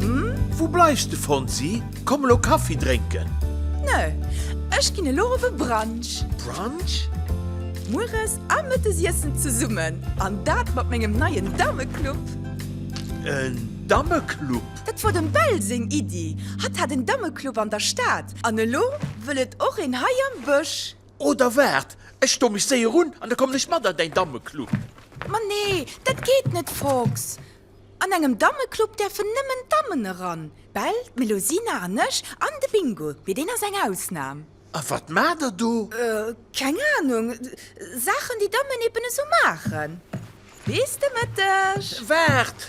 Hm, wou bleifs de, Fonsi? Komm elo Kaffi drénken! Nö, ech ginn elo op e Brunch. Brunch? Mueres a mëttes iessen zesummen, an dat mat mengem neien Dammeclub. En Dammeclub? Dat wor dem Bell seng Iddi. Hatt hat en Dammeclub an der Stad, an elo wëll et och een hei am Bësch. Oh, da waart, ech stoe mech séier un, an da kommen ech mat an däin Dammeclub. Ma nee, dat geet net, Fox. An engem Dammeclub däerfen nëmmen Dammen eran, d'Bell, d'Melusina an ech, an de Bingo, mee deen ass eng Ausnam. A wat maacht der do? Keng Anung, Saachen déi Dammen eben esou maachen. Bis de Mëtteg! Waart!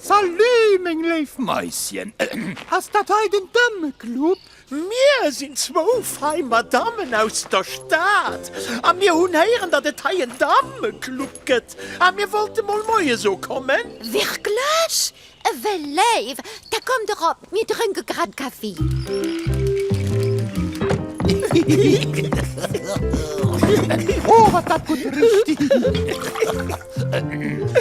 Salut meng léif Maischen, ass dat hei den Dammeclub? Mir sinn zwou fei Madammen aus der Stad a mir hunn héieren, datt et hei en Dammeclub gëtt a mir wollte mol Moie so kommen. Wierklech? Ewell léif, da kommt erop. Mir drënke grad Kaffi. Oh, wat dat gutt richt!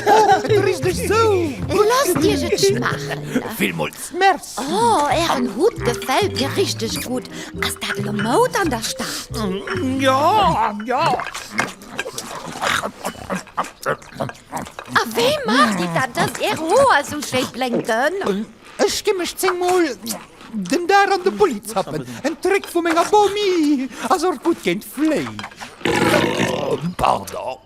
Oh, et richt dech sou! Loosst Iech et schmaachen. Villmools Merci! Oh, Ären Hutt gefält mir richteg gutt. Ass dat elo Moud an der Stad? Jo, jo. A wéi maacht Dir dat, dass Är Hoer sou schéi blénken? Ech gi mech zéng Mol den Dag an de Bulli zappen. En Trick vu menger Bomi, ass och gutt géint d'Fléi. Pardon.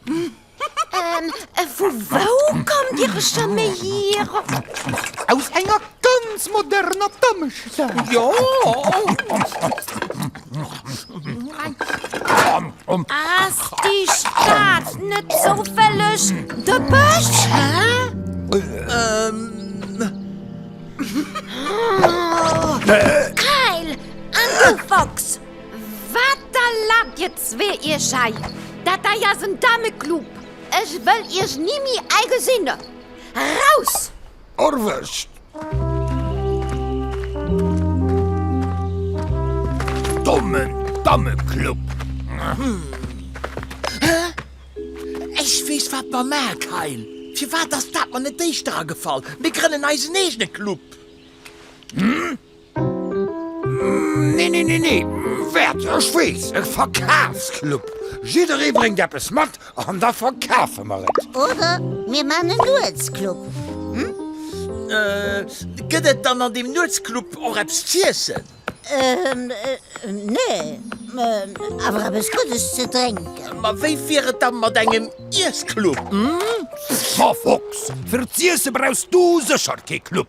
Ähm, vu wou kommt Dir Chamé hier? Aus enger ganz moderner Dammestad. Jo. Um Ass déi Stad net zoufälleg de Bësch? Kayl an du Fox, wat erlaabt dir zwee iech hei? Dat hei ass en Dameclub, ech wëll iech ni méi hei gesinn! Raus! Erwëscht! Dommen Dammeclub! Hä? Ech weess, wat mer maan, Kyle! Firwat ass dat mer net éischter agefall? Mir grënnen eisen eegene Club! Nee, nee, nee, nee, wäert, ech weess, e Verkafsclub. Jidderee bréngt eppes mat an da verkafe mer et. Oder mir man e Nuetsclub, hm? Gëtt et dann an deem Nuetsclub och eppes z'iessen? Ähm, nee, awer eppes Guddes ze drénken. Ma wéi wier et da mat engem Iessclub, hm? Scha Fox, fir z'iessen brauchs du sécher kee Club.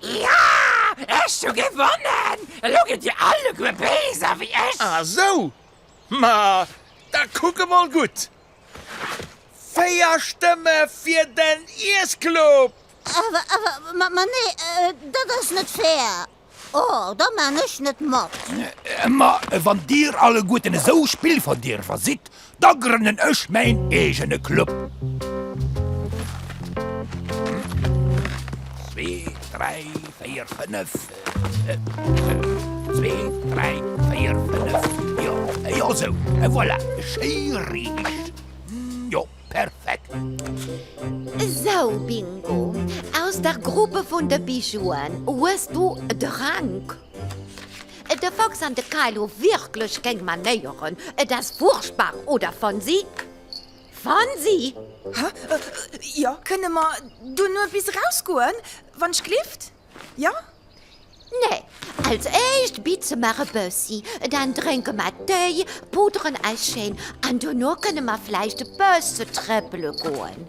Ja! Ech hu gewonnen! Elo gitt dir alleguer Béiser wéi ech! Ah sou! Ma da kuck emol gutt! Véier Stëmme fir den Iessclub! Awer, ma nee, dat ass net fair! Oh, da maan ech net mat! Ma wann dir alleguerten esou spillverdierwer sidd, Da grënnen ech mäin eegene Club. Zwee, dräi, véier, fënnef. Zwee, dräi, véier, fënnef. Jo, jo, sou. E voilà, schéiriicht. Jo, perfekt. Esou, Bingo, aus der Gruppe vun de Bijouen hues du de Rank. De Fox an de Kay hu wierklech keng Manéieren. Et ass furchtbar, oder Fonsi? Fonsi! Hä? Jo? Kënne mer duerno epis erausgoen, wann ech glift? Jo? Nee. Als éischt bitze mer e bëssi, dann drénke mer Téi, puderen eis schéin an duerno kënne mer vläicht e bësse trëppele goen.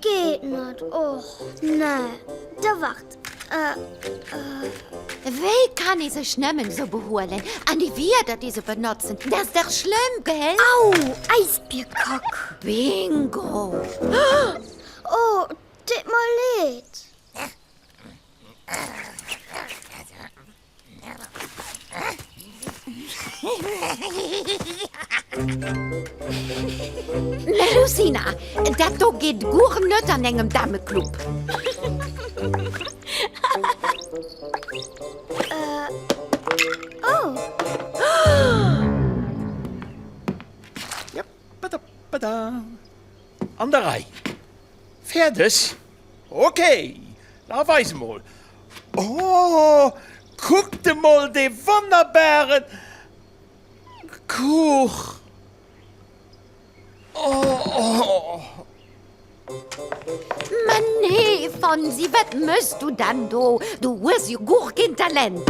Geet net, och nee. Da wart, ëh. Wéi kann ee sech nëmmen esou behuelen? An déi Wierder, déi se benotzen, dat ass dach schlëmm, gell? Au! Äisbierkack! Bingo! Oh, deet mer leed. Melusina, dat do geet guer net an engem Dameclub. An der Rei. Fäerdeg? Ok, da weis emol. Oh, kuckt emol dee wonnerbaren Kuch! Oh! Mä nee, Fonsi, wat méchs du denn do? Du hues jo guer keen Talent!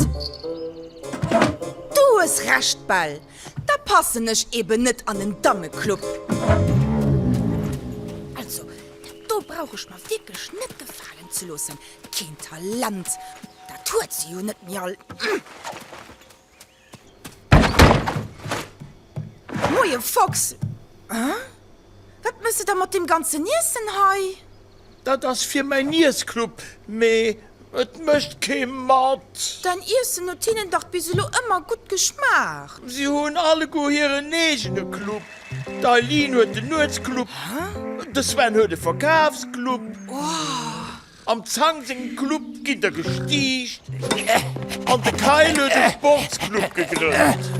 Du hues Recht, Bell. Da passen ech eben net an en Dammeclub. Also, dat do brauch ech mer wierklech net gefalen ze loossen. Keen Talent, dat huet se jo net méi all. Moie Fox! Wat méchs de da mat deem ganzen Iessen hei? Dat ass fir mäi Niesclub, mee et mécht kee mat. Däin Iessen huet hinnen dach bis elo ëmmer gutt geschmaacht. Si hunn alleguer hiren eegene Club. D'Eileen huet den Nuetsclub, de Sven huet e Verkafsclub, am Zhang sengem Club gitt der gestiicht an de Kyle huet e Sportsclub gegrënnt.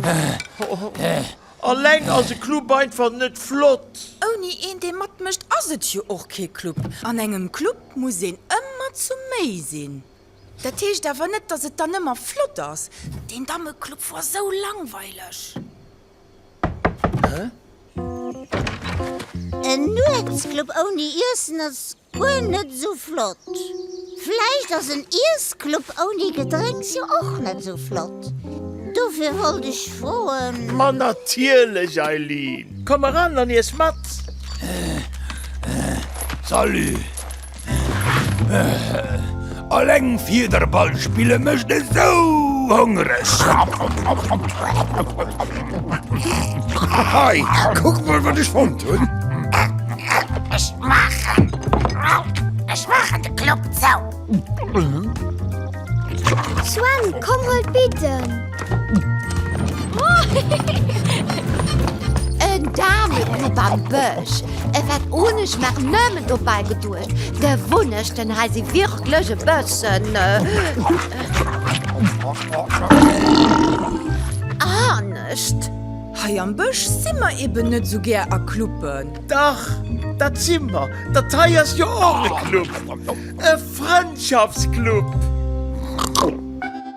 Alleng ass e Club einfach net flott. Ouni een dee matmécht ass et jo och kee Club. An engem Club muss een ëmmer zu méi sinn. Dat heescht awer net, datt et dann ëmmer flott ass. Deen Dammeclub wor esou langweileg. En Nuetsclub ouni Iessen ass Guer net sou flott. Vläicht ass en Iessclub ouni Gedrénks jo och net sou flott. Dofir wollt ech froen. Ma natierlech, Eileen! Komm eran an iess mat! Salut! Alleng Fiederball spille mecht esou hongereg! Hei, kuck mol wat ech fonnt hunn! Ech maachen, ech maachen de Club zou! Sven, komm huel d'Bidden! En Dameclub am Bësch, e wat un, ech mach nëmmen dobäi geduecht, de Wunnechten hei si wierklech e bëssen anescht. Hei am Bësch si mer eben net esou gär a Cluben. Dach, dat si mer, dat hei ass jo och e Club, e Frëndschaftsclub.